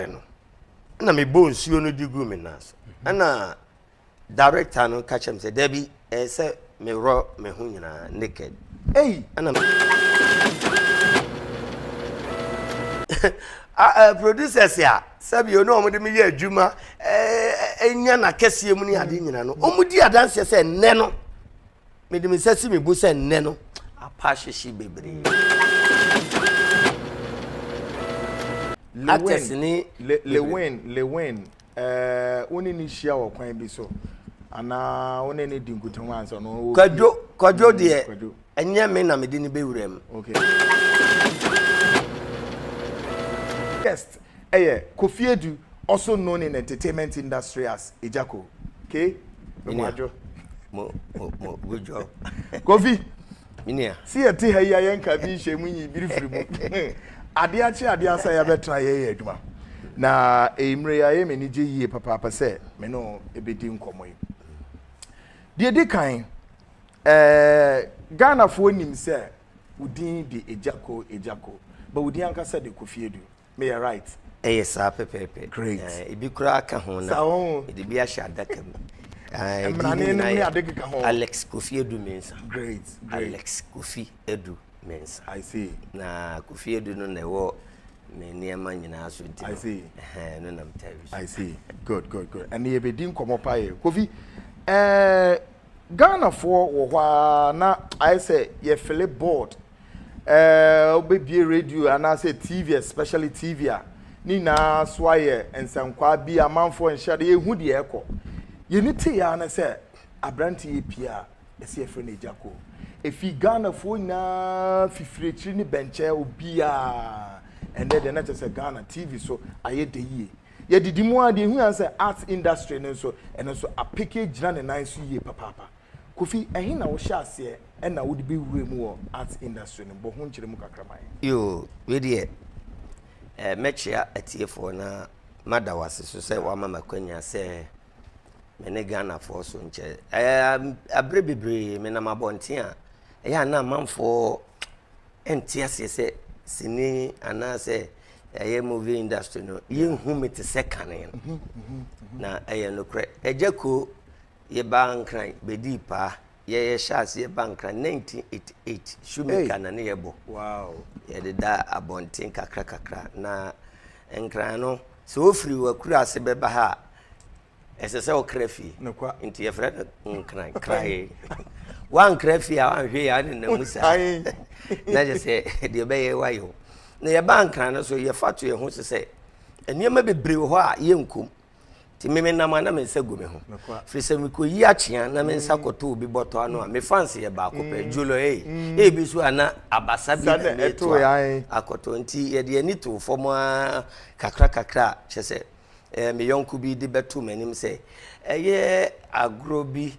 kyerɛɛ no ɛna mebɔ nsuo no de gu me nan so ɛna director no ka kyerɛ me sɛ dabi ɛyɛ sɛ meworɔ me ho nyinaa naked ei ɛna producers a sɛbi ɔne wɔn de me yɛ adwuma ɛnya na kɛseɛ mu ne ade nyina no wɔn di adanseɛ sɛ nnɛ no mede me nsa si me bo sɛ nnɛ no apa ahyehye bebree actors ne lewin lewin ɛɛ eh, wone ne hyia wɔ kwan bi so anaa wone ne di nkutaho ansa na ɔwɔ kwadwo kwadwo mm, deɛ ɛnyɛ me na mede ne bɛwura mu okay. guest Ɛyɛ Kofi Adu also known in entertainment industry as Ejako. Okay? Me mo adwo. Mo mo mo good job. Kofi. Minia. Si yɛ te ha yi ayɛ nka bi nhyɛ mu nyi biri firi mu. Ade akye ade asa yɛ abɛtra yɛ yɛ adwuma. Na emre ya yɛ m'ani gye yie papaapa sɛ me no ebedi nkɔmɔ yi. Deɛ di kan, eh, Ghanafoɔ nim sɛ wo din de Ejako Ejako, but wo din ankasa de Kofi Adu. Me yɛ right. Ɛyɛ saa pɛpɛɛpɛ. Great. Eh, ebi koraa ka ho na. Sa ho. Ɛde bi ahyɛ adaka mu. Eh, Mmerane no ne ade keka ho. Alex Kofi Edu Mensa. Great. Great. Alex Kofi Edu Mensa. I see. Na Kofi Edu no na ɛwɔ me nneɛma nyinaa so nti. I see. Eh, no na mtaa bi so. I see. Good, good, good. Ɛne yɛbɛdi nkɔmmɔ paa yɛ. Kofi, eh, Ghanafoɔ wɔ hɔ a na ayɛ sɛ yɛfele board Ɛɛ, wobɛbue radio anaasɛ TV, especially TV a, ne nyinaa so ayɛ nsɛnkwaa bi amanfoɔ nhyɛ ade, yɛhu deɛ ɛkɔ. Yɛni tee ara ne sɛ, aberante yɛ pie a, ɛsɛ yɛfrɛ no agya ko. Ɛfiri Ghanafoɔ nyinaa, fifiri akyiri ne bɛnkyɛ, obiara. Ɛnɛ deɛ na kyerɛ sɛ Ghana TV so ayɛ dɛ yie. Yɛdidi mu ara deɛ ɛhu yɛn sɛ arts industry no nso, ɛno nso apeke agyina ne nan so yie papaapa. Kofi, ɛhe na wohyɛɛ aseɛ ɛna wode bɛ wuraa mu wɔ arts industry no, bɔ ho nkyerɛ mu kakra ma yɛn. Yoo, wei deɛ eh, mɛkyea atiefoɔ na mada wo ase so sɛ woama me akwanya sɛ me ne Ghanafoɔ so nkyɛ eh, aberɛ bebree menam abɔnten a, ɛyɛ a na amanfoɔ ɛnte aseɛ sɛ sini anaasɛ ɛyɛ movie industry no, yɛnhu me te sɛ kane no, na ɛyɛ nokorɛ. Agya Koo. Yɛbaa Nkran bɛdii paa. Yɛyɛ hyɛɛ aseɛ ba Nkran 1988, Shoemaker na ne yɛ bɔ. Yɛde da abɔnten kakra kakra. Na Nkran no, sɛ wo firi w'akuraase bɛba ha a, ɛsɛ sɛ wo kra fie. Nti yɛfrɛ no Nkran, krae. Woankra fie a, woanhwɛ yɛ, ane na mu saa. Na kyɛ sɛ, deɛ ɛbɛyɛ woayɛ o. Na yɛbaa Nkran no so, yɛfa to yɛn ho so sɛ, nneɛma bebree wɔ hɔ a yɛnkom. nti me menam a na me nsa gu me ho firi sɛ mekɔyi akyea na me nsa kɔto obi bɔtɔ ano a me fans yɛ baako pɛ mm. julo ei mm. ebi so a na abasa bi na meto a akɔtɔ nti yɛde ani too fam a kakra kakra a kyɛ sɛ eh, me yɔnko bi de bɛto m'anim sɛ ɛyɛ agorɔ bi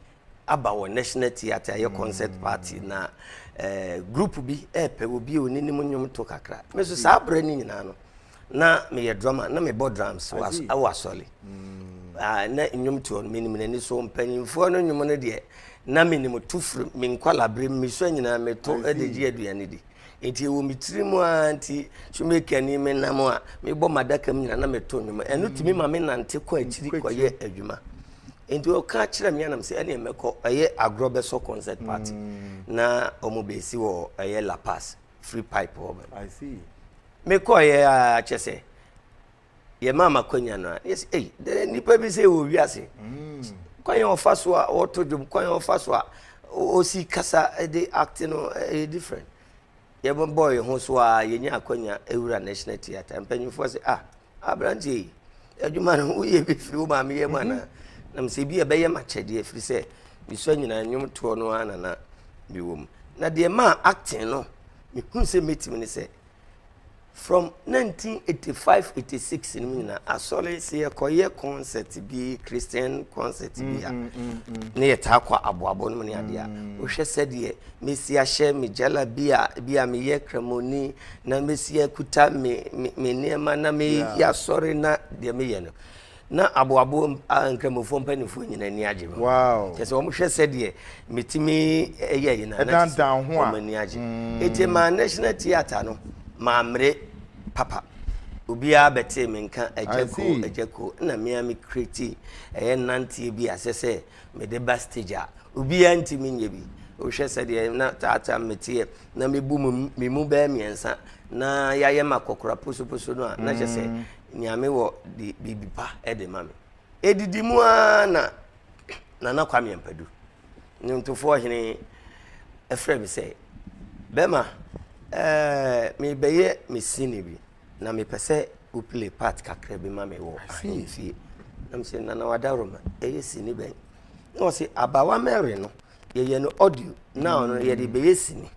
aba wɔ national theatre ayɛ concert mm. party na eh, group bi ɛɛpɛ eh, obi a oninim nnwom to kakra me so saa berɛ no nyinaa no na meyɛ drama na mebɔ drums wɔ asɔre mm. ah, na nnwom toɔ no menim n'ani so mpanyimfoɔ no nnwom no deɛ na menim to firi me nkwalabere me so nyinaa meto de gye aduane di Enti ɛwɔ me tiri mu ara nti, shoemaker ni me nam a, mebɔ m'adaka mu nyina na meto nnwom. Ɛno tumi mm. ma me nante kɔ akyiri kɔyɛ adwuma. Enti ɔka kyerɛ me anam sɛ ɛneɛ mɛkɔ ɛyɛ agorɔ bɛsɔ concert party mm. na ɔmo bɛsi wɔ ɛyɛ La Paz free pipe hɔ bɛ. Mekɔɔyɛ a kyɛ sɛ yɛmaa ma kwanya no a ne yɛsɛ ei dɛn nnipa bi sɛ wɔ wiase mm. kwan yɛ ɔfa so a ɔto dwom kwan yɛ ɔfa so a ɔsi kasa de acte no ɛyɛ different yɛbɛbɔ yɛn ho so a yɛnya akwanya ɛwura national theatre mpanyinfoɔ sɛ ah aberanteɛ yi adwuma no woyɛ bi firi wo maame yɛ mu anaa mhm. nam sɛ bi ɛbɛyɛ makyɛdeɛ firi sɛ mesua nyinaa nnwom toɔ no ara nana mewɔ mu na deɛ maa acting no mehu sɛ mɛtumi ne sɛ From 1985-86 no mu nyinaa, asɔre sɛ yɛkɔyɛ concert bi, Christian concert bi a, mm, mm, mm, na yɛtaa kɔ aboabo no mu ne adeɛ a, wohwɛ sɛdeɛ mɛsi ahyɛ me gyala bi a bi a meyɛ kramoni na mɛsi akuta me nneɛma na meyɛ asɔre na deɛ meyɛ no Na aboaboam a Nkramofoɔ mpanimfoɔ nyinaa ani agye ho. Wow. Kyerɛ sɛ wɔhwɛ sɛdeɛ metumi yɛ yi na na sɛ wɔn ani agye. Mm. Eti maa National Theatre no maa mmere papa. Obiara bɛtee me nka agya ko agya ko na me a me kreti ɛyɛ nanteɛ bi a sɛ sɛ mede ba stage a obiara ntumi nyɛ bi. Wohwɛ sɛdeɛ na taataa meteɛ na mebu me mu bɛyɛ mmiɛnsa na yɛayɛ ma kɔkora posoposo no a na kyɛ sɛ mm. nea mewɔ de biribi pa de ma me. Edidi mu ara na Nana Kwame Ampadu, nnwontofoɔ hene, frɛ me sɛ, Bɛma, eh, mebɛyɛ me sini bi, na mepɛ sɛ wo play part kakra bi ma me wɔ ahemfie. Na me sɛ, Nana Wadaroma, ɛyɛ sini bɛn? Na ɔse, Abawa Mary no, yɛyɛ no audio na ɔno yɛde bɛyɛ sini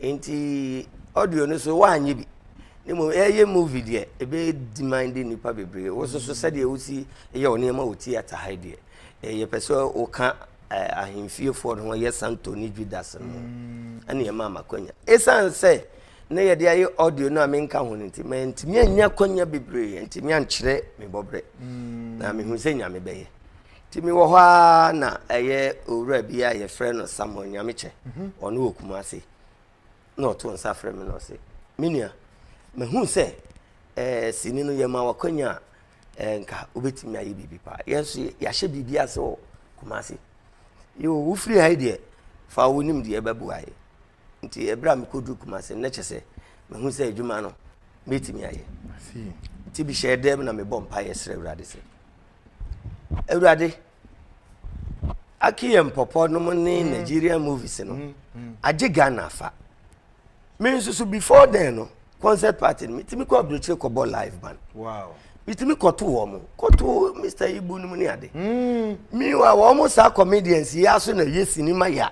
nti audio no so woanyɛ bi ne mmom ɛyɛ movie deɛ ɛbɛyɛ demand de nnipa bebree wo so so sɛdeɛ wosi yɛ wo nneɛma wɔ theatre ha deɛ ɛyɛ pɛ sɛ woka ahemfiefoɔ no ho yɛ santo ne judas no ho mm. ɛne ɛma amakwanya ɛsiane sɛ na yɛde ayɛ audio no a menka ho no nti mantumi anya kwanya bebree ntumi ankyerɛ me bɔberɛ mm. na mehu sɛ nyame bɛyɛ Nti mewɔ hɔ ara na ɛyɛ owura bi a yɛfrɛ no Samuel Nyamekyɛ, mhm. ɔno wɔ Kumase, na ɔto nsa frɛ me na ɔse, me nua, mehu sɛ ɛɛ eh, sini no yɛma wakwanya a ɛɛ eh, nka wobɛtumi ayɛ biribi paa yɛn so yɛahyɛ biribi ase wɔ Kumase yoo wofiri ha yi deɛ fa wonim deɛ ɛbɛboa yɛ nti ɛberɛ a mekɔduru kumase na kyɛ sɛ mehu sɛ adwuma no mɛtumi ayɛ nti bihyɛɛ dɛm na mebɔ mpaeɛ srɛ awurade sɛ awurade akeyɛ mpɔpɔ nom ne mm. nigerian movies no mm, mm. agye ghana afa me nso so before then no concert party no metumi kɔ aburokyire kɔbɔ live band metumi kɔto wɔ mo kɔto mr ibu no mu ne ade mewa wɔ mo saa comedians yi aso na yɛ sinima yɛ a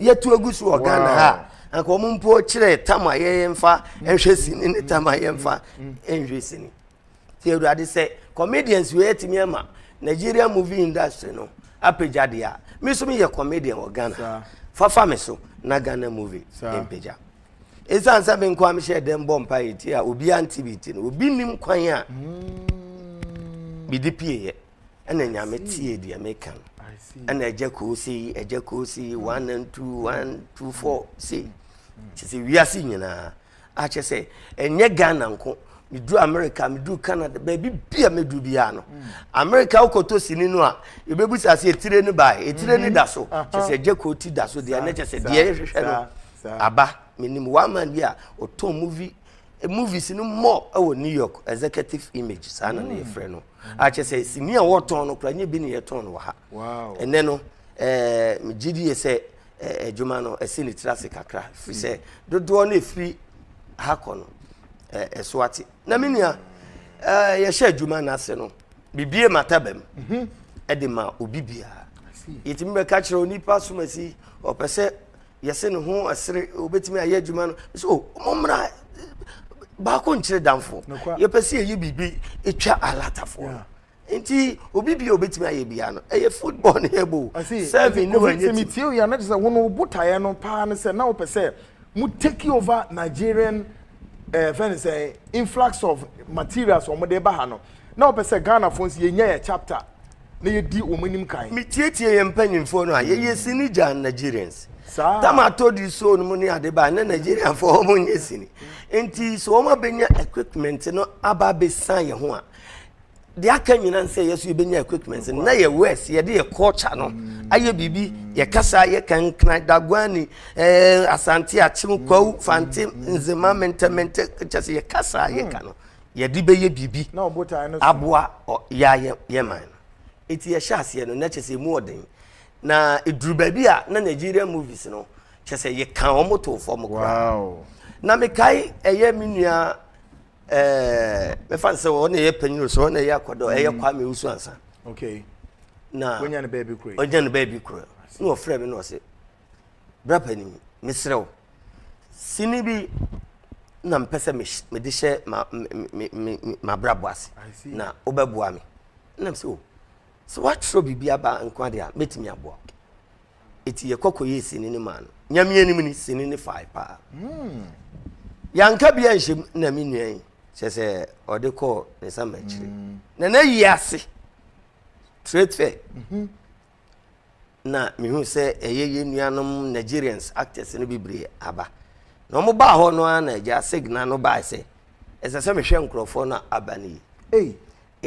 yɛtu agu so wɔ ghana ha a anka wɔn mpo kyerɛ tam a yɛmfa nhwɛ sini ne tam a yɛmfa nhwɛ sini ti awurade sɛ comedians wei atumi ama nigerian movie industry no apagya deɛ a me nso meyɛ comedian wɔ ghana fafa me so na ghana movie mpagya ɛsiane sɛ me nko a mehyɛ dɛm bɔ mpa yɛ ti a obiara nte bi ti no obi nim kwan a mede pieeɛ ɛna nyame tie deɛ meka no ɛna agya koo sei agya koo sei one and two one two four sei kyɛ sɛ wiase nyinaa akyɛ sɛ ɛnyɛ ghana nko meduru america meduru canada baabi bia meduru biara no america wokɔtɔ sini no a ɛbɛbu sa sɛ ɛtire no bae ɛtire no da so kyɛ sɛ agya koo ti da so deɛ ɛnɛ kyɛ sɛ deɛ ɛhwehwɛ no aba menim one man bi a ɔtɔn movie movies no mmɔ ɛwɔ new york executive image saa na ne yɛfrɛ no akyɛ sɛ sini a wɔtɔn no kora nyɛ bi ne yɛtɔn no wɔ ha ɛnɛ no eh, megye die sɛ eh, adwuma no ɛsi ne tiri ase kakra firi sɛ dodoɔ no ɛfiri ha kɔ no eh, ɛso ate na me nua yɛhyɛ adwuma no ase no bibie mataba mu mhm. ɛde ma obi biara yɛtumi bɛka kyerɛ onipa somasi ɔpɛ sɛ yɛse ne ho ɛsere obetumi ayɛ adwuma no sɛ o oh, mommra baako nkyerɛ damfo yɛpɛ sɛ yɛyi biribi ɛtwa alatafoɔ no nti obi bia obetumi ayɛ bia no ɛyɛ football ne ɛbo seven ne wanyɛ ti metie yɛ na kyerɛ sɛ wɔn obotaeɛ no paa no sɛ na wopɛ sɛ mo take over Nigerian ɛɛ eh, fɛn sɛ influx of materials wɔn de ba ha no Na ɔpɛ sɛ Ghanafoɔ nso yɛnya yɛ chapter na yɛdi wɔn anim kan. Me tie tie yɛn mpanyinfoɔ no a yɛ yɛ sini gya Nigerians. Saa. Tam atɔ di soul no mu ne ade ba ne Nigerianfoɔ wɔn nyɛ sini. Nti sɛ wɔn abɛnya equipment no aba abɛsan yɛ ho a deɛ aka nyina nsɛ yɛ so yɛbɛnya equipment no na yɛ west yɛde yɛ culture no mm. ayɛ biribi yɛ kasa yɛ kankran daguani eh, asante akyem kwawu fante mm. nzema mentɛmentɛ kyɛ sɛ yɛ kasa yɛ ka no yɛde bɛyɛ biribi aboa yɛayɛ yɛ man no ɛti yɛhyɛ aseɛ no na kyɛ sɛ ɛmu ɔden na ɛduru baabi a na Nigerian movies no kyɛ sɛ yɛka wɔn too fam koraa na mekae ɛyɛ me nua mefa no sɛ ɔne ɛyɛ panyini so ɔne ɛyɛ akɔdɔ ɛyɛ mm. Kwame Usu ansa na ɔnya no baabi korɔ na ɔfrɛ me na ɔse Bra panin, mesrɛ wo, sini bi na mepɛ sɛ mede hyɛ m'abrabɔ ase na wobɛboa me nam sɛ o oh, sɛ woatwerɛ biribi aba nko adeɛ a mɛtumi aboa wo ɛti yɛkɔ kɔyɛɛ sini no maa no nyameɛ anim ne sini no fae paa hmm. yɛanka bia nhyɛm na me nua yi kyɛ sɛ ɔde kɔɔ ne sama akyiri hmm. na na yi ase trɛtrɛ mhm. na mehuu sɛ ɛyɛ yɛn nuanom Nigerians actors no bebree aba na wɔn baa hɔ no ara na agya Segna no baa sɛ ɛsɛ sɛ mehwɛ nkurɔfoɔ no aba no yi ei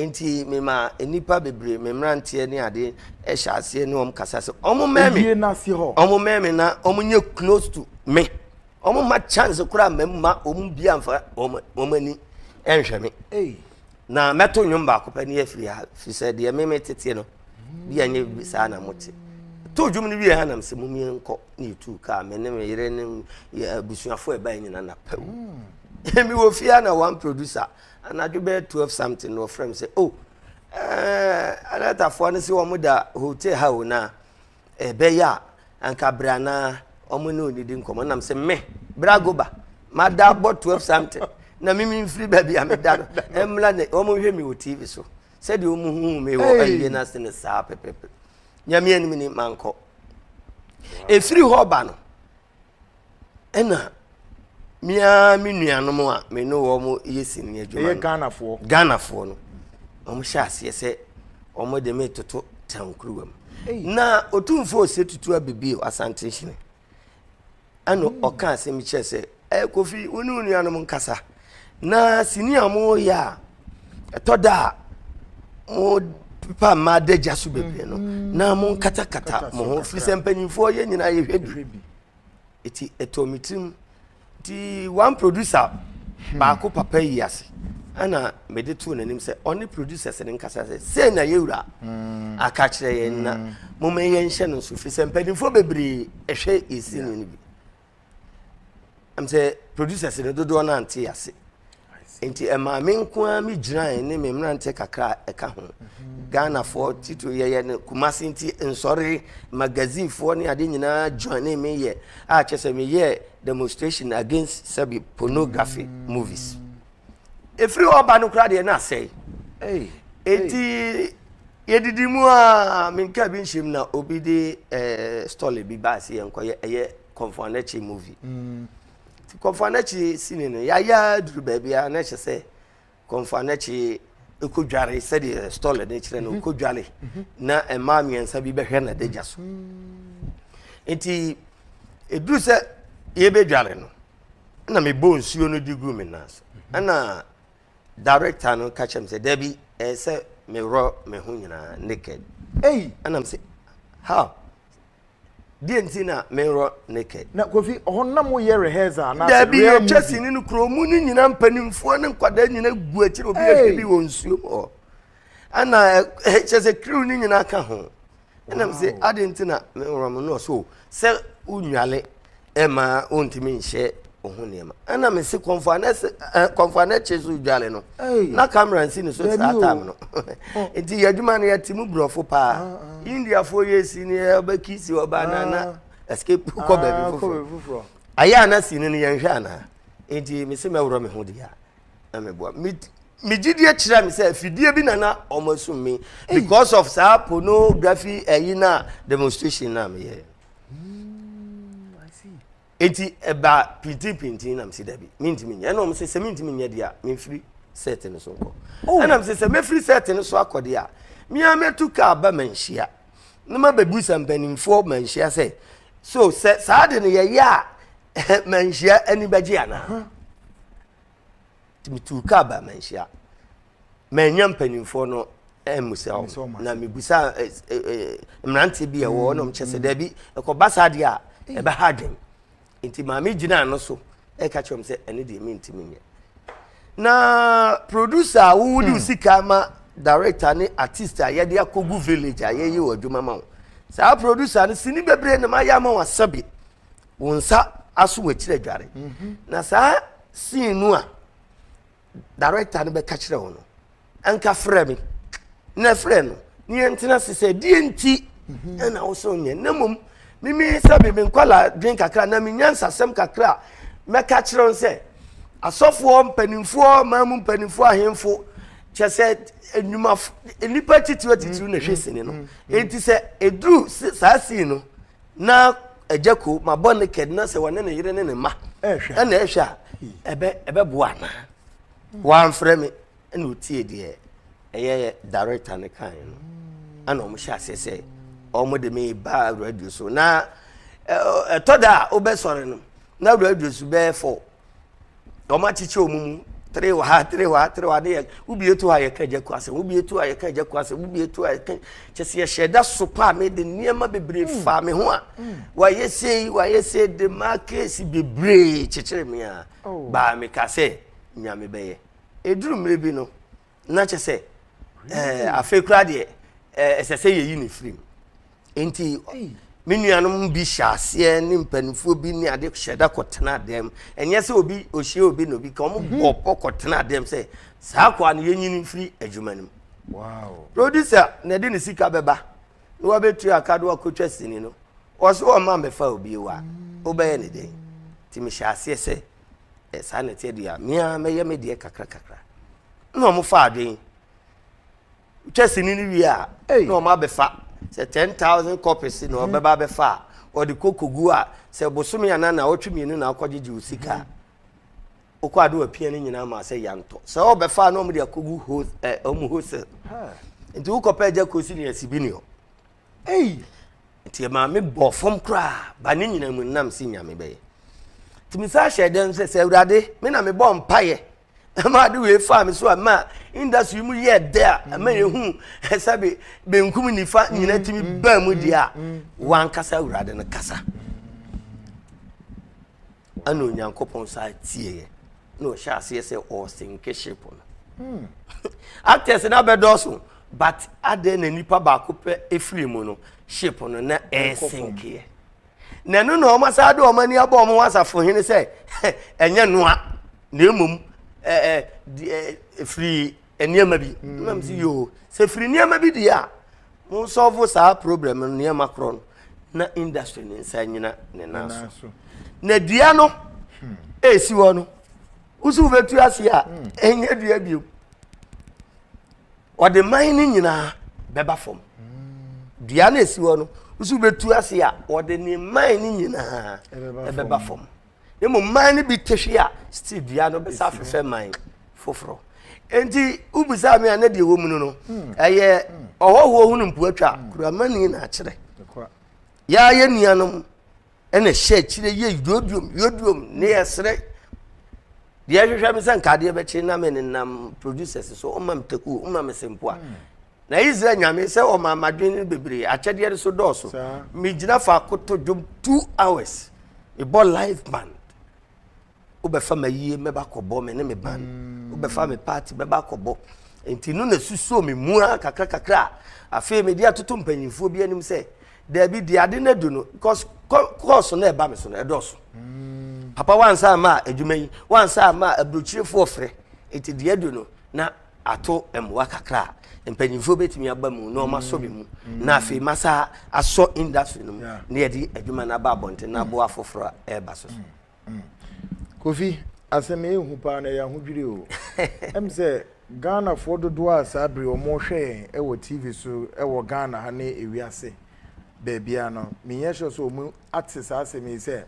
nti mema nnipa bebree me mmeranteɛ ne ade ɛhyɛ aseɛ ne wɔn kasa sɛ wɔn mɛmi wɔn mɛmi na wɔn nyɛ close to me wɔn ma chance koraa mɛma wɔn bi anfa wɔn ani ɛnhwɛ me. Hey. Na mɛto nnwom baako pɛ ne afiri ha, firi sɛ deɛ me meteteɛ no bi anyɛ saa na mote. To dwom no wie ha nam sɛ momie nkɔ na yɛtuu kaa me ne me yere ne abusuafoɔ ɛbae nyina na pɛw. Hmm. Mewɔ fie a na one producer anadwo bɛyɛ 12 something na ɔfrɛ me sɛ o oh, eh, anatafoɔ no sɛ wɔn da hotel ha o na ɛbɛyɛ a anka bere anaa wɔn ne onidi nkɔmɔ nam sɛ me bere agoba mada abɔ twelve something na mimi nfiri baabi a meda no ɛmla ne wɔn nhwɛ mi wɔ tv so sɛdeɛ wɔn hu mi wɔ ayie no ase ne saa pɛpɛpɛ nyame anim ni mankɔ efiri hɔ ba no. Ɛna me ara me nuanom a me ne wɔn yɛ sini adwuma no. Ɛyɛ Ghanafoɔ. Ghanafoɔ no. Wɔn hyɛ aseɛ sɛ wɔn de me toto tankuruwa mu. Na otumfoɔ ose tutu abibi asante nhyene. Ɛna ɔka asɛm kyerɛ sɛ ɛɛ kofi wo ne wo nuanom nkasa. Na sini a wɔyɛ a ɛtɔ da a mopepa mmaa adagya so bebree no mm-hmm. na monkatakata mo ho firi sɛ mpanyimfoɔ yɛ nyinaa yɛhwɛ bi ɛti ɛtɔ me tirim nti one producer hmm. baako papa yi ase ɛna mede too n'anim sɛ ɔne producers no nkasa sɛ sei na yɛwura hmm. aka kyerɛ yɛn na hmm. momma yɛnhyɛ no nso firi sɛ mpanimfoɔ bebree ɛhwɛ ɛsini no bi am sɛ producers no dodoɔ no ante ase nti ɛmaa me nko ara me gyinae ne me mmeranteɛ kakra a ɛka ho mhm. ghanafoɔ titiri yɛyɛ no kumase nti nsɔre magazinefoɔ ne ade nyinaa joine me yɛ a kyɛ sɛ meyɛ demonstration against sɛbi pornography mm. movies ɛfiri hɔ ba no kora deɛ na asɛe ɛnti yɛdidi mu a menka bi nhyɛm na obi de eh, stole bi baa sɛ yɛnkɔyɛ ɛyɛ kɔmfo anakyi movie mm. nti kɔmfo anakyi sini no yɛayɛ duru baabi a na ɛhyɛ sɛ kɔmfo anakyi ɛkɔdware sɛdeɛ stole no kyerɛ no ɔkɔdware mhm. mhm. na ɛmaa mmiɛnsa bi bɛhwɛ na dagya so mm. nti ɛduru sɛ yɛbɛdware no ɛna mebɔ nsuo no de gu me nan so ɛna director no ka kyerɛ me sɛ dabi ɛyɛ sɛ meworɔ me ho nyinaa naked ei ɛna me sɛ how deɛ nti na meworɔ naked na kofi ɔhɔ nam woyɛ rehearse a na dabi yɛtwa sini no kuro mu no nyinaa mpanimfoɔ ne nkwadaa nyinaa gu akyiri obi ahwɛ bi wɔ nsuo mu hɔ ɛna kyerɛ sɛ kiriw no nyinaa ka ho ɛna m sɛ ade nti na meworɔ mo no so sɛ wonwale ɛma wontumi nhyɛ wo ho nneɛma ɛna me se kɔmfoa no akyi so dwale no na kamera nsi ne so saa tam no nti yɛ adwuma no yɛte mu borɔfo paa ah, ah. indiafoɔ yɛ si ne yɛbɛkisi ɔba na na ah. escape kɔ baabi foforɔ ayɛ a na si no no yɛnhwɛ anaa nti me se mɛworɔ me ho deɛ a na me boa me me gyidie kyerɛ me sɛ fidie bi na na wɔn asum me because of saa pornography ɛyi na demonstration na me yɛ eti ɛba pintinpintin na me si dabi me ntumi nyɛ ɛna wɔn sɛ sɛ me ntumi nyɛ deɛ me nfiri set no so nkɔ oh. ɛna me sɛ sɛ mefiri set no so akɔ deɛ mmea mɛtu kaa ba ma nhyia na ma bɛbu sɛ mpanimfoɔ ma nhyia sɛ so sɛ saa de no yɛyɛ a manhyia ani bɛgye anaa nti metuu kaa ba manhyia manya mpanimfoɔ no mmusa hɔ na mebusa eh, eh, eh, mmeranteɛ bi ɛwɔ hɔ na ɔmkyɛ sɛ mm. daabi ɛkɔba saa deɛ a ɛbɛha adwen nti maame gyinaa no so ɛka kyerɛ m sɛ ɛne deɛ mentimi nyɛ na producer a wowode hmm. sika ma director ne artist a yɛde akɔgu village a yɛyɛ wɔ adwuma ma wo saa producer no sini bebree na mayɛ ama wo asɛbe wo nsa aso w'akyiri adware mhm. na saa scene no a director no bɛka kyerɛ wo no anka frɛ me na frɛ no ne yɛntena se sɛ deɛ nti mhm. ɛna wo sɛ wonyɛ na mmom mimi sɛ me me nkwala dwen kakra na menya nsasɛm kakra mɛka kyerɛ wo sɛ asɔfoɔ mpanimfoɔ maa mu mpanimfoɔ ahemfo kyɛ sɛ nnwuma nnipa titiriw atitiriw na ɛhwɛ sini no enti sɛ ɛduru saa sii no na agya kuo ma bɔ ne kɛd na sɛ wɔne ne yere ne ne mma ɛna ɛhwɛ a ɛbɛ ɛbɛboa anaa wɔamfrɛ me ɛna ɔtie deɛ ɛyɛ director no kan no ɛna wɔn hyɛ aseɛ sɛ wɔn de me ba radio so na ɛtɔ da a wobɛsɔre no na radio so bɛyɛ fɔ wɔn akyekyɛ wɔn mu three wɔ ha three wɔ ha three wɔ ha ne yɛ wobie to ha yɛka agya ku asɛm wobie to ha yɛka agya ku asɛm wobie to ha yɛka kyɛ sɛ yɛhyɛ da so paa me de nneɛma bebree mm. faa me ho a mm. wɔayɛ sei wɔayɛ sei de ma keesi bebree kyekyere me a oh. baa me ka sɛ nyame bɛyɛ eduru mmiri bi no. na kyɛ sɛ ɛɛ afei koraa deɛ ɛɛ ɛsɛ sɛ yɛyi ne firi mu nti me nuanom bi hyɛ aseɛ ne mpanimfoɔ bi ne ade hyɛ da kɔtena dɛm ɛnyɛ sɛ obi ohyia obi na obi ka wɔn mhm. bɔ pɔ kɔtena dɛm sɛ saa akɔa no yɛnyini firi adwuma no mu producer na ɛde ne sika bɛba na wabɛtu aka do akɔtwa sini no wɔso wɔn ma mbɛfa obi wa wobɛyɛ ne den nti mehyɛ aseɛ sɛ ɛ saa na ɛteɛ deɛ a me ara mɛyɛ me deɛ kakra kakra na wɔn fa adwene twɛ sini no wie a na wɔn abɛfa sɛ ten thousand copies na wɔn bɛba abɛfa a wɔde kɔ kogu a sɛ bosome anan na ɔtwe mmienu na akɔgyegye o sika a okɔ ado apia ne nyinaa ma sɛ yantɔ sɛ ɔbɛfa a na wɔn de akɔgu ho ɛ wɔn ho sɛ nti wokɔpɛ agya kosi ne asibi ne hɔ. Ei! Nti ɛmaa me bɔɔ fam koraa ba ne nyinaa mu nam si nyame bɛyɛ nti me saa hyɛ dɛm sɛ sɛ awurade me na mebɔ mpaeɛ ɛma ade wei faa me so a ma industry mu yɛ dɛ a ɛma yɛhu ɛsɛ be benkum nifa nyina tumi mm, baa mu deɛ a mm, mm, wankasa awurade no kasa Ɛnna Onyankopɔn san tieeɛ na ɔhyɛ aseɛ sɛ ɔresenke ship no. Hmm. Actors no abɛdɔɔso but adɛn na nipa baako pɛ efiri mu no ship no na ɛresenkeɛ. Na ɛno na wɔn asan de wɔn ani abɔ wɔn ho asafo hene sɛ ɛnyɛ noa na mmom ɛɛ ɛɛ firi nneɛma bi mm. na msi yoo sɛ firi nneɛma bi deɛ a mo sɔfo saa problem no nneɛma korɔ no na industry ne nsa nyina ne nan so na dua no hmm. ɛsi hɔ no wosi wobɛtu ase a hmm. ɛnyɛ dua bio ɔde man no nyinaa bɛba fam hmm. dua no ɛsi hɔ no wosi wobɛtu ase a ɔde ne man no nyinaa ɛbɛba fam na mmom man no bi tehwe a still dua no bɛsa afefɛ man foforɔ nti wobisaa me a na deɛ wɔ mu no no hmm. ɛyɛ hmm. ɔhɔhoɔ ho no mpoatwa hmm. kuramani na akyerɛ yɛa yɛ nuanom ɛna hyɛ akyire yɛ yoduom yoduom ne yɛserɛ deɛ ɛhwehwɛ me sɛ nkadeɛ bɛkye na me nenam producers so ɔma me takuo ɔma me sempoa Na Israel nyame sɛ ɔma madwene no bebree akyɛdeɛ no so dɔɔso. Megyina faako to dwom two hours. Mebɔ live band. Wobɛfa ma yie mɛba kɔbɔ me ne me band. Mm. Wobɛfa me party mɛba kɔbɔ. Nti no na susuo me mu ara kakra kakra. Afei mede atoto mpanyinfoɔ bi anim sɛ daabi deɛ ade no adu no because kɔɔso no ɛba me so no ɛdɔɔso. Mm. Papa wansa ama adwuma yi wansa ama aburokyirefoɔ frɛ. Nti deɛ adu no na ato mmoa kakra a mpanyinfoɔ bɛtumi aba mu na wɔasɔ me mu mm. na afei masa asɔ industry no mu na yɛde adwuma no aba abɔnten na aboa afoforɔ a ɛreba so so mm. mm. kofi asɛm ɛhu paa na ɛyɛ ahodwiri o ɛm sɛ ghanafoɔ dodoɔ a saa bere wɔhwɛ yɛn ɛwɔ tv so ɛwɔ ghana ha ne ewiase baabia no menyɛ sure sɛ wɔn ate saa asɛm yi sɛ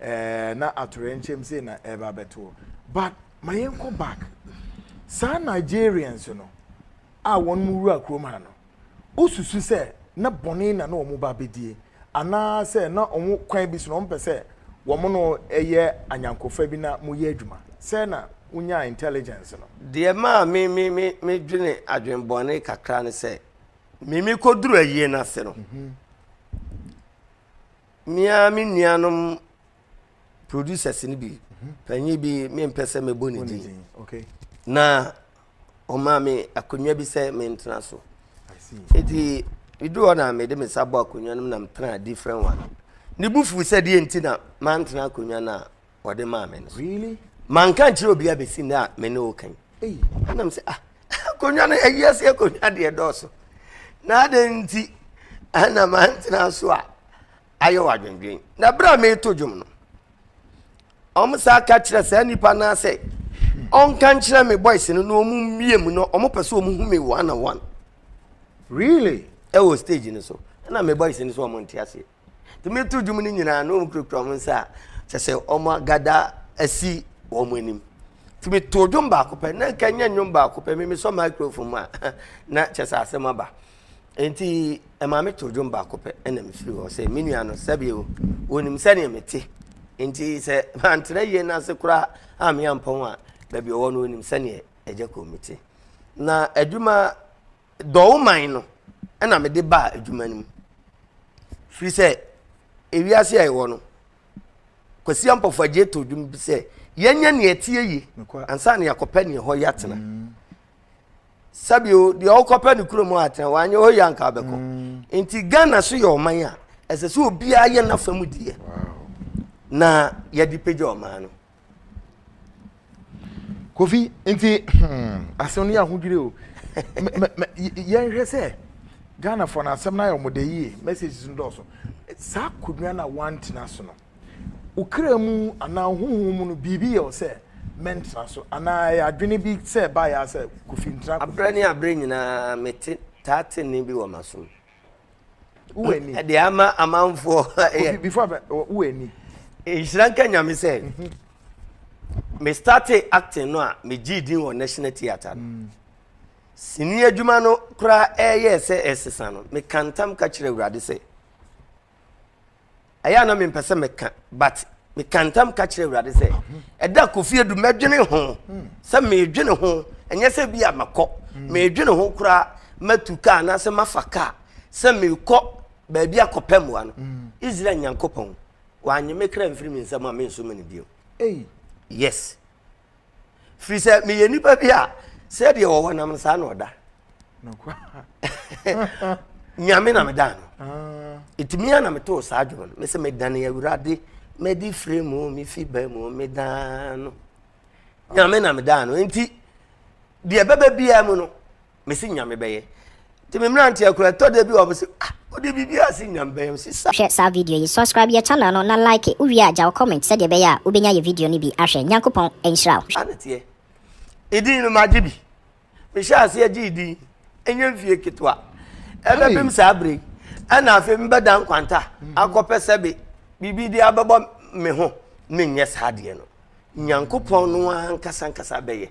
ɛɛ na atorɛ nkyɛm sei na ɛreba abɛtoɔ but ma yɛnkɔ back saa Nigerians no a wɔn mo wura kurom ha no wosusu sɛ na bɔne na na wɔn ba bɛdie anaa sɛ na wɔn kwan bi so na wɔn pɛ sɛ wɔn no yɛ anyankofa bi na mo yɛ adwuma sɛ na wonya intelligence no. Deɛ maa me me me me dwene adwene bɔne kakra ne sɛ me me kɔ duru ayie no ase no mmea me nuanom producers no bi panyin bi mempɛ sɛ mɛbɔ ne din na ɔmaa me akonnwa bi sɛ mentena so nti medu hɔ na mede me nsa bɔ akonnwa no mu na metena different one ne bu fuu sɛ deɛ nti na mantena akonnwa no a ɔde maa me no so manka nkyerɛ obi a bɛsi nnɛ a me ne wo kan ɛnam sɛ ah akonnwa no ayi ase akonnwa deɛ dɔɔso na adɛn nti ɛna mantena so a ayɛ wɔn adwendwen. Na bere a mereto dwom no, wɔsan ka kyerɛ saa nipa no sɛ ɔnka nkyerɛ me boys no na wɔmmie mu no wɔpɛ sɛ wɔhu me one on one. Really? Ɛwɔ stage no so. Ɛna me boys no so wɔn nte aseɛ. Nti meto dwom no nyinaa na wɔn kurakura wɔn nsa a kyɛ sɛ wɔn agada asi wɔn anim. Nti meto dwom baako pɛ na nka nyɛ nnwom baako pɛ me mesɔ microphone mu a na kyɛ sɛ asɛm aba. Enti ɛmaa metoo dwom baako pɛ na mefiri hɔ sɛ, Me nua no, sɛbe o, wɔnim sɛdeɛ mete. Enti sɛ mantra yie no ase koraa a meampɔn a, baabi ɔwɔ no wɔnim sɛdeɛ agya kɔn mu te. Na adwuma dɔwoman no ɛna mede baa adwuma no mu. Firi sɛ ewiase a ɛwɔ no, Kwasi Ampɔfo agye to dwom bi sɛ, yɛnyɛ nea ɛteɛ yie ansa na yɛakɔpɛ nea ɛhɔ yɛatena. Mm. sɛbi o deɛ ɔkɔpɛ ne kurom a tena wanyɛ hɔ yie anka abɛkɔ mm. nti ghana so yɛ ɔman a ɛsɛ sɛ obiara yɛ n'afa mu deɛ na yɛde pagya ɔman no kofi nti hmm, asɛm no yɛ ahodwiri o yɛnhwɛ sɛ ghanafoɔ no asɛm no ayɛ ɔmɔda yie messages no dɔɔso saa akonnwa no a woantena so no Wo kra mu anaa wo honhom mu no, biribi yɛ wo sɛ, Mɛntena so. Anaa ɛyɛ adwene bi sɛ ɛbaeɛ ara sɛ, Kofi, ntena Kofi. Aberɛ ne aberɛ nyinaa mete, taa te nne bi wɔ m'asom. Wo wɔ ani. Ɛde ama amanfoɔ. Kofi, before abɛ, wo wɔ ani. Nhyira nka Nyame sɛ, me startee acting no a, me gyee din wɔ National Theatre no. Sini adwuma no koraa ɛyɛɛ sɛ ɛresesa no, mekaa ntam ka kyerɛɛ Awurade sɛ, ɛyɛ a na mempɛ sɛ meka but meka ntam ka kyerɛ awurade sɛ ɛda kofi adu mɛdwene ho hmm. sɛ medwene ho ɛnyɛ sɛ bi a makɔ hmm. medwene ho koraa matu kaa anaasɛ mafa kaa sɛ mekɔ baabi akɔpɛ mmoa no hmm. israel nyankopɔn wanye me kra mfiri me nsɛm a menso me no bio yes firi sɛ meyɛ nipa bi a sɛdeɛ wɔwɔ nam no saa na ɔda nyame na meda no ah. ɛtumi a na metoo saa dwom no me sɛ medane awurade mɛde fire mu mefi ba mu medaa no nyame na medaa no nti deɛ bɛbɛ biara mu no mesi nya mebɛyɛ nti me mmerante akura ɛtɔ da bi wɔ mo se ah wode biribi ase nya mebɛyɛ si sa. Hwɛ saa video yi subscribe yɛ channel no na like wowie a gyaw comment sɛdeɛ ɛbɛyɛ a wobɛnya yɛ video no bi ahwɛ Nyankopɔn nhyira wo. Saa ne teɛ. Edin no magye bi. Mehyɛ aseɛ gye edin. Ɛnyɛ mfie ketewa. Ɛbɛbem saa bere yi. Ɛna afei mebɛda nkwanta mhm. akɔpɛ sɛ be biribi de abɛbɔ me ho menyɛ saa adeɛ no. Nyankopɔn no ankasa ankasa bɛyɛ.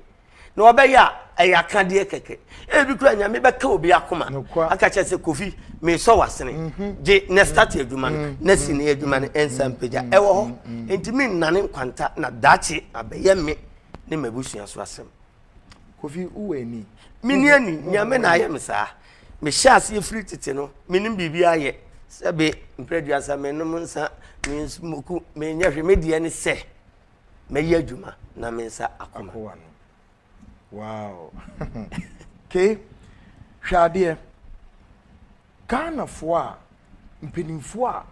na ɔbɛyɛ a ɛyɛ akadeɛ kɛkɛ ebi kura nyame bɛka obi akoma aka kyerɛ sɛ kofi mesɔ wasene mhm. gye na start adwuma no mhm. na si ne adwuma no mhm. nsa mpagya ɛwɔ hɔ nti me nnane nkwanta na daakye abɛyɛ me ne m'abusua so asɛm kofi wowɔ ani meni ani nyame na ayɛ me saa mehyɛ aseɛ firi tete no menim biribi ayɛ sɛbe mprɛduasa menom nsa mesmoku menyɛ hwe me deɛ ne sɛ Mɛyɛ adwuma na me nsa akoma. Akowa no. Wow. okay. Hwɛ adeɛ. Ghanafoɔ a mpanimfoɔ a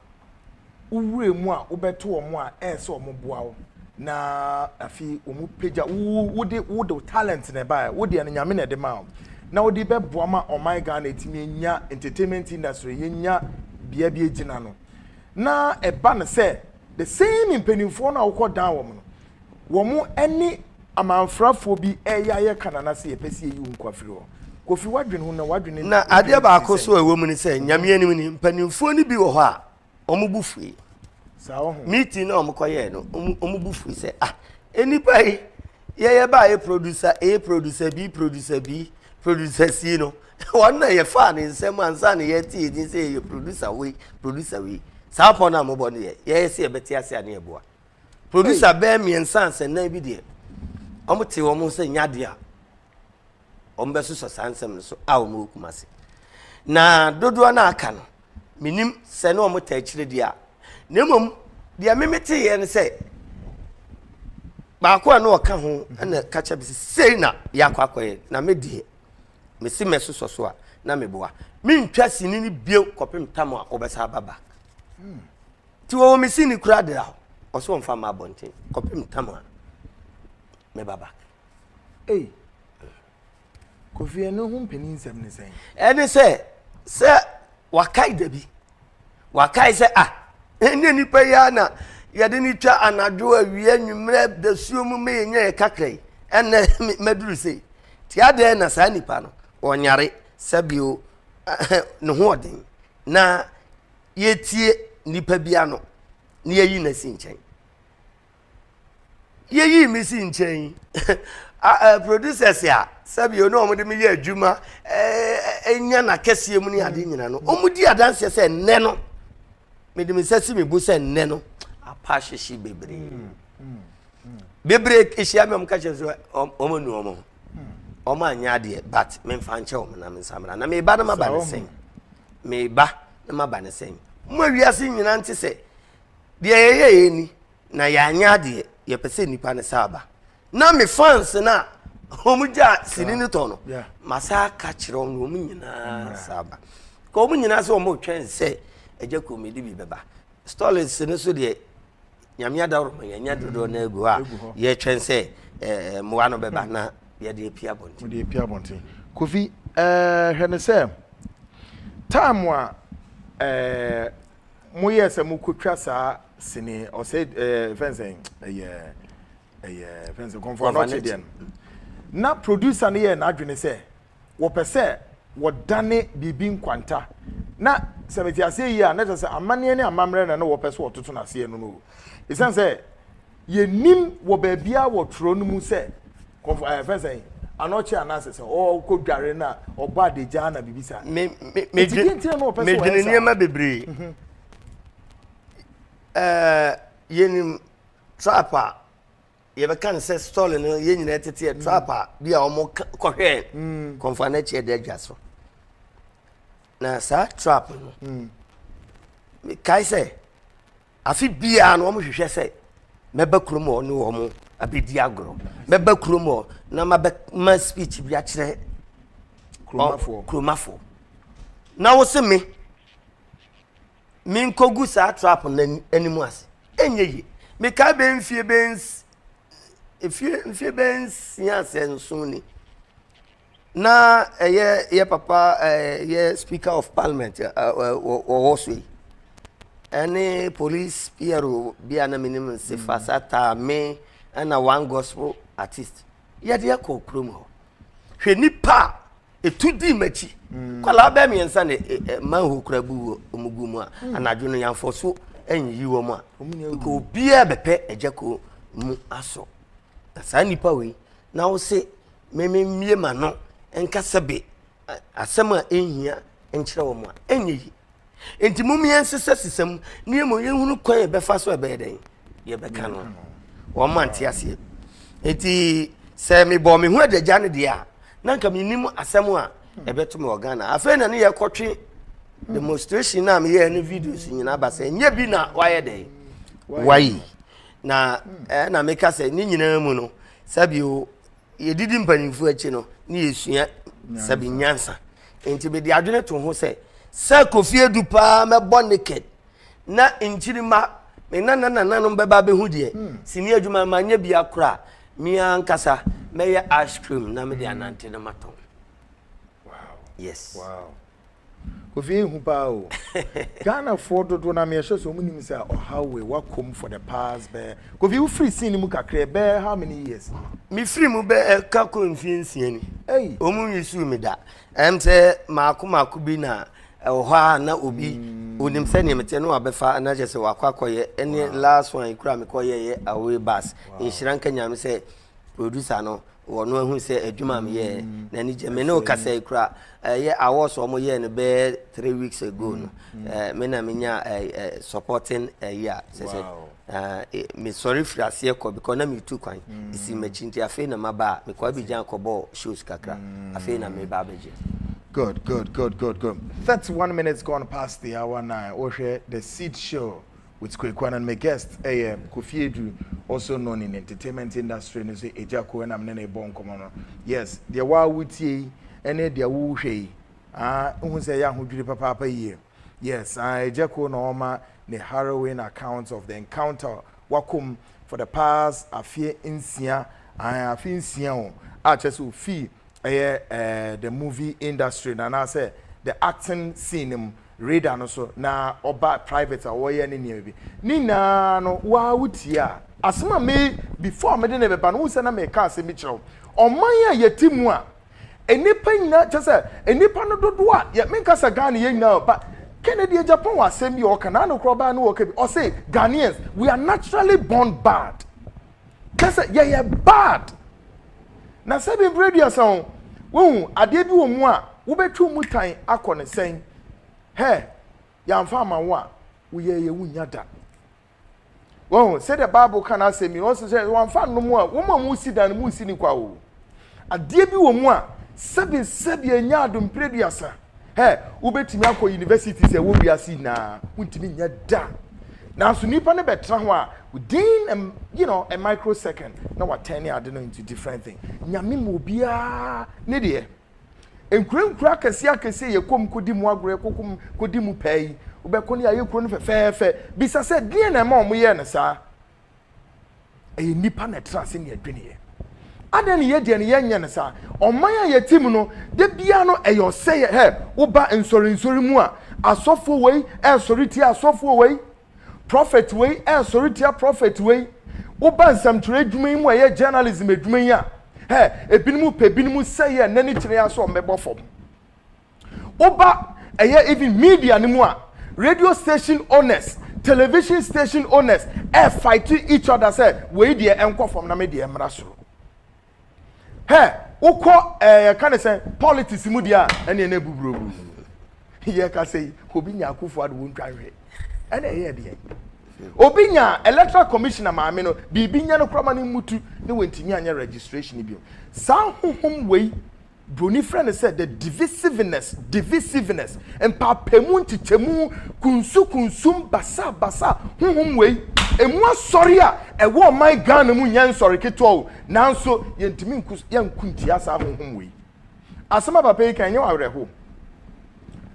wowura mu a wobɛto wɔn a ɛyɛ sɛ wɔn boa wo na afei wɔn pagya wo wode wode talent na ɛbaeɛ wo deɛ no nyame na ɛde maa wo na wode bɛboa ma ɔman Ghana etimi enya entertainment industry yenya bea bi egyina no na ɛba no sɛ The same mpaninfoɔ no a wokɔ dan wɔn no wɔn ɛne amanfrafoɔ bi ɛyɛ ayɛ ka nana sɛ yɛpɛ sɛ yɛyi wo nkwa firi hɔ Kofi wadwene ho na wadwene Na adeɛ baako nso a ɛwɔ mu ne sɛ Nyame anim ni mpaninfoɔ no bi wɔ hɔ a wɔn bo fue saa ɔho. meeting no a wɔn kɔ yɛɛ no wɔn bo fue sɛ ah nnipa yi yɛyɛ baa yɛ producer A producer B producer B producer C no wɔn na yɛfaa ne nsɛm ansa na yɛte yɛn din sɛ yɛyɛ producer wei producer wei saa pɔn a mobɔ no yɛ yɛyɛ sɛ yɛbɛte ase a ne yɛboa producer bɛɛ mmiɛnsa asɛnnan bi deɛ wɔn te wɔn sɛ nyadeɛ a wɔbɛsosɔ saa nsɛm no so a wɔwɔ Kumasi. Na dodoɔ no aka no, menim sɛ ne wɔn ta akyire deɛ a. Na mmom, deɛ me meteeɛ no sɛ, baako a na ɔka ho na ka kyɛ me sɛ sei na yɛakɔ akɔyɛ na me deɛ mesi mɛsosɔ so a na meboa mentwa sini no bio kɔpem tam a wɔbɛsa aba back hmm. nti wɔwɔ me sini kora de hɔ ɔsɛ wɔmfa ma abɔnten kɔpem tam a meba back Kofi ɛno ho mpanin nsɛm ne sɛn. ɛne sɛ sɛ wakae da bi wakae sɛ ah ɛnyɛ nipa yi ara na yɛde no twa anadwo awia nwummerɛ dasuo mu ma yɛnya yɛ kakra yi ɛnɛ maduru sei nti adɛn na saa nipa no ɔnyare sɛbio ne ho ɔden na yɛtie nipa bi ano na yɛyi no asi nkyɛn yɛyii me si nkyɛn producers a sɛbi ɔne wɔn de me yɛ adwuma ɛnya na kɛseɛ mu ne ade nyina no wɔn di adanseɛ sɛ nnɛ no me de me nsa si me bo sɛ nnɛ no apa ahyehye bebree mm, mm, mm. bebree ehyia mi wɔn ka kyerɛ sɛ wɔn anu wɔn ho wɔn anya adeɛ but me nfa nkyɛ wɔn na me nsa mra na me ba no ma ba ne sɛn me ba no ma ba ne sɛn mo awiase nyina nti sɛ Deɛ yɛyɛeɛ ni na yɛanyɛ adeɛ yɛpɛ sɛ nnipa no sa aba na me fans no a wɔn gya sini no tɔ no masa aka kyerɛ wɔn wɔn nyinaa sa aba ka wɔn nyinaa sɛ wɔn retwɛn sɛ ɛgya komedi bi bɛba stolins no so deɛ nyame adaworoma yɛanya dodoɔ no agu hɔ a yɛtwɛn sɛ mmoa no bɛba na yɛde api abɔnten kofi hwɛ ne sɛ time a mo yɛ sɛ mo kɔ twa saa sini ɔsɛ ɛɛ fɛnsɛn ɛyɛ ɛyɛ fɛnsɛn kɔnfɔ anɔkye deɛ no na producer no yɛ n'adwene sɛ wɔpɛ sɛ wɔdane biribi nkwanta na sɛ mete aseɛ yie a na kyerɛ sɛ amanneɛ ne amammerɛ na na wɔpɛ sɛ wɔtoto no aseɛ no no o ɛsiane sɛ Yɛnnim wɔ baabiara wɔ twerɛ no mu sɛ kɔmfo ayɛ fɛ sɛn anɔkye anaasɛ sɛ ɔkɔ dware na ɔbɔ adagyaa na biribi saa. Me me me dwen me dwen nneɛma bebree. Mhm. Ɛɛ yɛnim trap a yɛbɛka no sɛ stɔle no yɛn nyinaa tete yɛ trap a bi a wɔn kɔhwɛɛ mm. kɔnfɔ anakyi ɛdɛ adwa so na saa trap no mm. mekae sɛ Afe biara no, wɔhwehwɛ sɛ mɛba kurom hɔ ne wɔn abɛdi agorɔ. Mɛba kurom hɔ na mabɛma speech bi akyerɛ kuromafoɔ. Na wo se me, menkɔgu saa trap no anim ase. Ɛnyɛ yie. Mekae bɛyɛ mfie bɛyɛ mfie bɛyɛ nsia sɛ nson ni. na ɛyɛ yɛ papa ɛyɛ eh, speaker of parliament eh, eh, wɔwɔ so yi ɛne police piero bi a na menim nse fa sa taa me ɛna one gospel artist yɛde ɛkɔ kurom hɔ hwɛ nipa a etu di m'akyi mm. kwalaa bɛɛ mmiɛnsa na eh, eh, manhole kura bu wɔ ɔmo gu mu a mm. anadwo no yɛnfɔ so ɛnyiyi wɔn a nka obiara bɛpɛ ɛgya ko mu asɔ na saa nipa wei na wo se me me mmue m'ano nka sɛ be asɛm a ɛnhia nkyerɛ wɔn a ɛnyɛ yi nti mom yɛnsesa sisa mu ne yɛmmɔ yɛhunu kwan yɛbɛfa so ɛbɛyɛ dɛn yɛbɛka no wɔn ma nte aseɛ nti sɛ mebɔ me ho adagya no deɛ a na nka menim asɛm a ɛbɛto me wɔ ghana afei na ne yɛkɔtwe demonstration no a meyɛɛ no videos nyinaa ba sɛ ɛnyɛ bi na wayɛ dɛn wayi Na ɛɛ na meka sɛ ne nyinaa mu no, sɛbio yɛdidi mpanyimfoɔ akyi no ne yɛsua sɛbi nyansa. Nti mede adwene to ho sɛ sɛ Kofi Adu paa mɛbɔ naked na nkyirima me nana nananom bɛba abɛhu deɛ hmm. sini adwuma manyɛ bi akora me ankasa mɛyɛ ice cream na mede anante no matɔn. Wow. Yes. Wow. Kofi yɛ hu paa o. Ghana foɔ dodoɔ na meyɛ sure sɛ ɔmo nim sɛ ɔhaw wei wakɔm for the past bɛɛ. Kofi wo firi scene mu kakra bɛɛ how many years ni? Me firi mu bɛɛ ka kɔ mfie nsia ni. Hey. Ɔmo nwi suu me da. Ɛm sɛ maako maako bi na ɛwɔ hɔ a na obi mm. onim sɛ nea meteɛ no wabɛfa na kyɛ sɛ wakɔ akɔyɛ ɛne wow. last one kura mekɔyɛ yɛ away bus. Wow. Nhyira nka nyame sɛ Producer no wɔ no ahu sɛ adwuma m yɛɛ n'ani gye me ne ɔkasa yi kora ɛyɛ awards ɔmo yɛɛ no bɛyɛ three weeks ago no me na me nya supporting ɛyi a sɛ sɛ me sɔre firi aseɛ kɔ because na me tu kwan esi m'akyi nti afei na ma ba a me kɔ abigyan kɔ bɔ shows kakra afei na me ba abɛgye. Good, good, good, good, good. 31 minutes gone past the hour nine. Wohwɛ the seed show. With Kweku Annan Me guest yɛ Kofi Aduru also known in entertainment industry no sɛ Agya Ko ɛna me ne no rebɔ nkɔmmɔ no. Yes, deɛ wo ara wotie yi ne deɛ wo rehwɛ yi aa nhu sɛ ɛyɛ ahodwiri papaapa yie. Yes, aa Agya Ko na ɔrema ne harrowing account of the encounter wako mu for the past afeɛ nsia aa afe nsia o a kyerɛ sɛ ofii ɛyɛ ɛɛ the movie industry no anaasɛ the acting scene no mu radar no so na ɔba private a ɔyɛ ne nneɛma bi ne nyinaa no wo ara wo tie a. Asɛm a me before mede no bɛba no wohu sɛ na meka asɛm bi kyerɛ wo ɔman a yɛte mu a nnipa nyinaa kyɛ sɛ nnipa no dodoɔ a yɛ menka sɛ Ghana yɛn nyinaa o but Kennedy Agyapong wɔ asɛm bi a ɔka n'ano koraa ɔbaa no ɔka bi ɔse Ghanaians we are naturally born bad. Kyɛ sɛ yɛyɛ bad. Na sɛ bi mprɛ aduasa o, wohu adeɛ bi wɔ mu a wobɛtwe mu tan akɔ ne sɛn? Hɛ, yɛamfa ama wo a, woyɛ yɛ wonnya da. Wohu, sɛdeɛ Bible ka n'asɛm yi, ɔse sɛ wɔamfa nnom a, wɔn a wɔsi dan no, monsi ne kwa o. Adeɛ bi wɔ mu a, sɛbi sɛbi ɛnyɛ ado mpere aduasa. Hɛ, wobɛtumi akɔ universities ɛwɔ wiase nyinaa, wontumi nyɛ da. Nanso nipa no bɛtena ho a, within a, you know, a microsecond, na watɛn ne ade no into different thing. Nyame ma obiara ne deɛ. Nkurenkura akɛseɛ akɛseɛ yɛ kɔm kɔdi mu agorɔ, kɔkɔm kɔdi mu pɛɛ yi, wobɛkɔ ne ayɛ kuro no fɛfɛɛfɛ. Bisa sɛ, deɛ na ɛma wɔn yɛɛ no saa? ɛyɛ nnipa na ɛtra ase ne adweneɛ adɛn ne yɛdeɛ no yɛnyɛ no saa ɔman a yɛte mu no da biara no ɛyɛ ɔsɛeɛ hɛ woba nsɔrensɔre mu a asɔfoɔ wei ɛresɔre tia asɔfoɔ wei prophet wei ɛresɔre tia prophet wei woba nsɛmtwerɛ adwuma yi mu a ɛyɛ journalism adwuma yi a hɛ ebinom pɛ binom sɛeɛ ɛnɛ ne kyerɛ yɛ asɛ ɔmmɛbɔ fam Woba ɛyɛ even media no mu a, radio station owners, television station owners ɛ fight each other sɛ wei deɛ ɛnkɔ fam na me deɛ ɛmmra soro. Hɛ, wokɔ ɛɛ ka ne sɛ politics mu deɛ a ɛneɛ na ɛbuburobu. Yɛka sɛ yi, obi nya akufo ado wontwa nhwɛ. Ɛna ɛyɛ deɛ. obi nya electoral commissioner maame no biribi nya no korama no mmutu ne wɔntumi anyɛ registration bio saa honhom wei Buroni frɛ no sɛ the divisiveness, divisiveness, mpaapaemu, nkyekyɛmu, kunsukunsum, basabasa, honhom wei, emu asɔre a ɛwɔ ɔman Ghana mu nyɛ nsɔre ketewa o, nanso yɛntumi nko yɛnko ntia saa honhom wei. Asɛm a papa yi kan nyɛ wɔ awerɛho.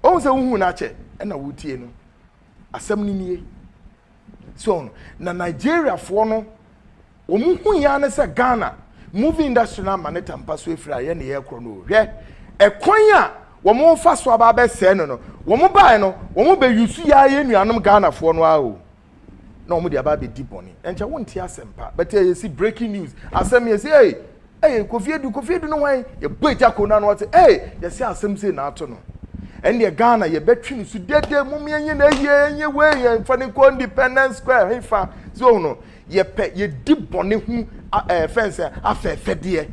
Ohun sɛ wohuu no akyɛ ɛna wotie no. Asɛm no nie. So ɔho no, na Nigeriafoɔ no, wɔn hui ara ne sɛ Ghana movie industry no ama ne tampa so afiri ayɛ ne yɛ korɔ no o. Hwɛ ɛkwan a wɔn refa so aba abɛsɛe no no. Wɔn baeɛ no, wɔn bɛ use yɛ ara yɛn nuanom Ghanafoɔ no ara o. Na wɔn de aba abɛdi bɔne. Ɛnkyɛ wonte asɛmpa, but ɛyɛ si breaking news. Asɛm yɛ si ee. Ɛyɛ Kofi Adu, Kofi Adu ne hwan? Yɛbɔe gya koo no ano, ɔse, Ei, yɛse asɛm sei na ato no. Ɛnneɛ Ghana yɛbɛtwe no so dede, mom yɛnyɛ no ayie, yɛnyɛ wei, yɛmfa no nkɔ Independence Square hefa, so wohu no, yɛpɛ, yɛdi bɔne ho ɛɛ fɛn sɛ afɛɛfɛdeɛ.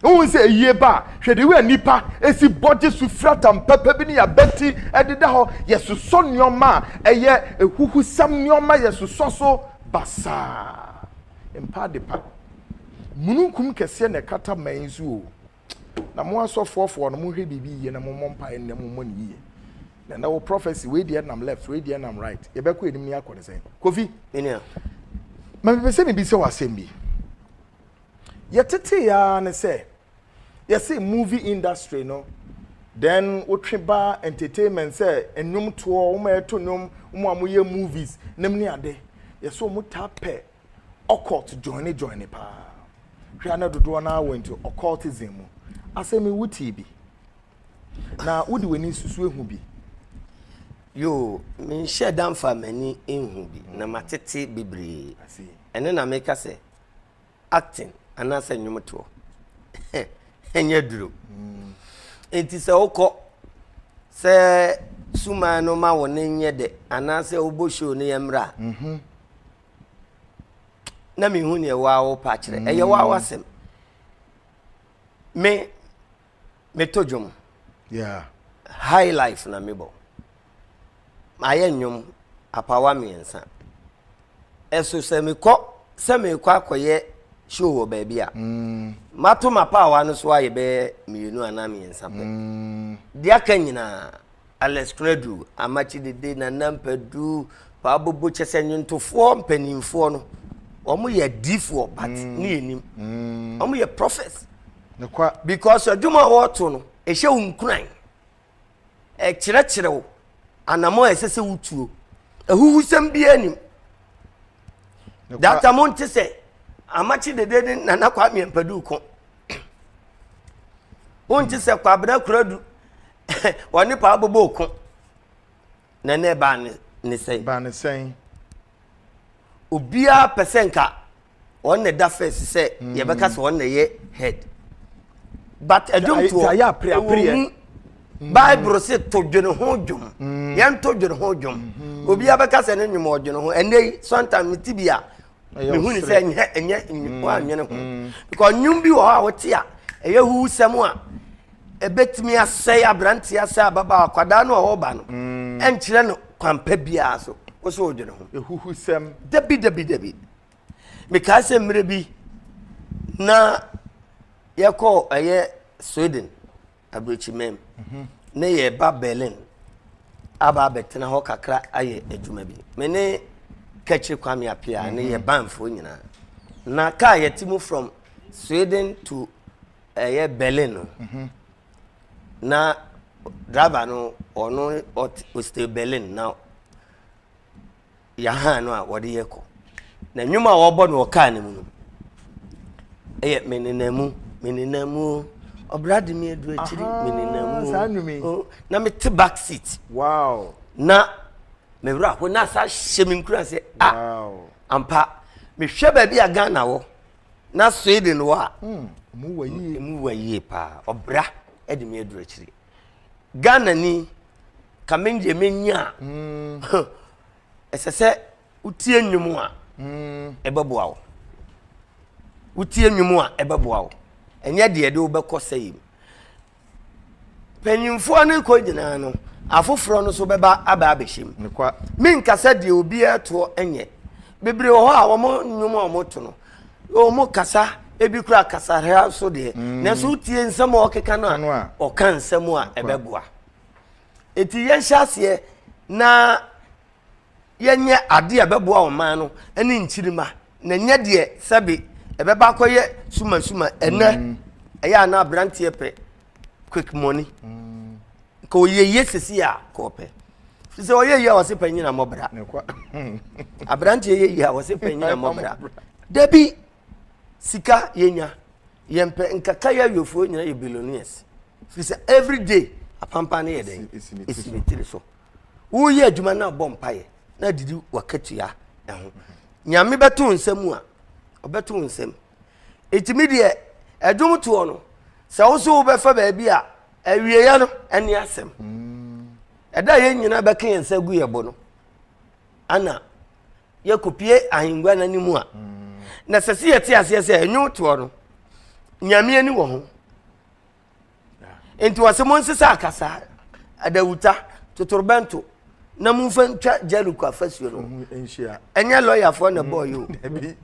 Wohu sɛ ayie ba a, hwɛ de wei a nnipa si bɔgye so firi atampapa bi ne yɛabati ɛdeda hɔ, yɛsosɔ nneɛma a ɛyɛ ahuhusɛm nneɛma, yɛsosɔ so basaa. Mpa adepa. Mununkum kɛseɛ na ɛkata man yi so o. Na mo asɔfoɔfoɔ no, monhwɛ biribi yie na mommɔ mpaeɛ nnɛ, mommɔ no yie. Na ɛnɛ wo prophecy, wei deɛ nam left, wei deɛ nam right. Yɛbɛkɔ anim na yɛakɔ no sɛn? Kofi, Me nua. ma mepɛ sɛ mebisa wo asɛm bi. Yɛtetee ara ne sɛ, yɛse movie industry no, then wotwe ba entertainment sɛ nnwomtoɔ, wɔn a ɛto nnwom, wɔn a wɔyɛ movies nom ne ade, yɛse wɔtaa pɛ occult joine joine paa. Hwɛ a na dodoɔ no ara wɔ into occultism mu. Asɛm yi wo tee bi? Na wo de w'ani susu ehu bi? Yoo, me nhyɛ da nfa m'ani nhu bi, na ma tete bebree. Ɛno na me ka sɛ, acting anaasɛ nnwom toɔ, ɛnyɛ duro. Mm. Nti sɛ wokɔ, sɛ suman no ma wo ne nyɛ dɛ, anaasɛ wobɔ show no yɛ mmra, mm-hmm. na mi hu nea waa wo pa kyerɛ ɛyɛ waa wasɛm me me to dwom yeah high life na me bɔ mayɛ nnwom apawa mmiɛnsa ɛso sɛ mekɔ sɛ mekɔ akɔyɛ show wɔ baabi a mm. mato mapaawa no so ayɛ bɛyɛ mmienu anaa mmiɛnsa pɛ mm. deɛ aka nyinaa Alex Konadu Amakye Dede, Nana Mpadu, Pabobo kyɛ sɛ nnwontofoɔ mpanimfoɔ no wɔn yɛ adiifoɔ but mm. ne yɛ nim mm. wɔn yɛ prophets because adwuma a wɔreto no ɛhyɛ wo nkuran ɛkyerɛkyerɛ wo anamɔ a ɛsɛ sɛ wotuo ahuhusɛm biara nim data mo nte sɛ amakye dede ne nana kwame mpadu ko wonte sɛ kwabena kuradu wɔne paa bobɔ ko na ɛnɛ ɛbaa ne ne sɛn. baa ne sɛn. obiara pɛ sɛ nka wɔn na ɛda first sɛ hmm. yɛbɛka sɛ wɔn na ɛyɛ head but ɛdwom toɔ ɛwɔ mu hmm. bible se to dwene ho dwom hmm. yɛn to dwene ho dwom obiara bɛka sɛ ne nnwom ɔdwene ho ɛnɛ yi sometimes ti bi a mehu ne sɛ ɛnyɛ ɛnyɛ mm, wanyene ho mm. because nnwom bi wɔ hɔ a wote a ɛyɛ huwusɛm a ɛbɛtumi asɛe aberanteɛ asɛe ababaa akwadaa no a ɔreba no mm. ɛnkyerɛ no kwampa biara so wo sɛ wodwene ho ɛhuhusɛm dabi dabi dabi mekaa sɛ mmerɛ bi na yɛkɔɔ ɛyɛ sweden Aburokyimam ne yɛn ba Berlin aba abɛtena hɔ kakra ayɛ adwuma bi. Me ne Kɛkyere Kwame Apia ne yɛ banfoɔ nyinaa. Na kaa yɛte mu from Sweden to ɛyɛ eh, Berlin no. Na driver no ɔno ɔte Berlin na yɛ hann no a wɔde yɛ kɔ. Na nnwom a wɔbɔ no wɔ kaa no mu no yɛ me nenam mu me nenam mu o ɔbra de me adu akyiri me nenam mu saa nnwom yi o na me te back seat wow na me wura ho na sa hyɛ me nkura sɛ a ah, ampa mehwɛ baabi a ghana wɔ na sweden wɔ a hmm, mu wɔ yie paa ɔbra de me adu akyiri ghana ni ka me deɛ mɛnyi a mm. ɛsɛ sɛ wotie nnwom a mm. ɛbɛboa wo wotie nnwom a ɛbɛboa wo ɛnyɛ deɛ de wobɛkɔ sɛ yim panyimfoɔ no kɔ nyinaa no afoforɔ no so bɛba aba abɛhyɛm menkasa deɛ obiara toɔ nyɛ bebree wɔ hɔ a wɔn nnwom a wɔto no Wɔn kasa, ebi kura kasareha so deɛ. Mm. Nanso wotie nsɛm a ɔkeka no a, ɔka nsɛm a ɛbɛboa. Eti yɛnhyɛ aseɛ na yɛnyɛ adeɛ a ɛbɛboa ɔman no ne nkyirima na nyɛ deɛ sɛbe ɛbɛba akɔyɛ sumasuma ɛnɛ mm. ɛyɛ a na aberanteɛ pɛ quick money nka ɔyɛ yie sisi a ka ɔpɛ fi sɛ ɔyɛ yie a wɔse pɛ nyina mmɔbra aberanteɛ yɛ yie a wɔse pɛ nyina mmɔbra da bi sika yɛnya yɛmpɛ nkaka yɛ awiafoɔ nyina yɛ billionaires fi sɛ every day apampa no yɛ dɛn ɛsi ne tiri so woyɛ adwuma no abɔ mpayɛ na adidi wakatua ɛho nyame bɛto nsɛm mu a ɔbɛto nsɛm Nti me deɛ ɛdwom toɔ no sɛ wo so wobɛfa baabi a awieɛ no ɛne asɛm ɛda yɛn nyinaa bɛka yɛn nsa gu yɛ bo no ana yɛkɔpie ahengua no anim a na sɛ sɛ yɛte aseɛ sɛ ɛnwo toɔ no nyame ani wɔ ho nti wɔse mo nsesa akasaa adawuta totorobɛnto na momfa ntwa jericho afasuo no ɛnyɛ lɔyafoɔ na ɛbɔɔ yi o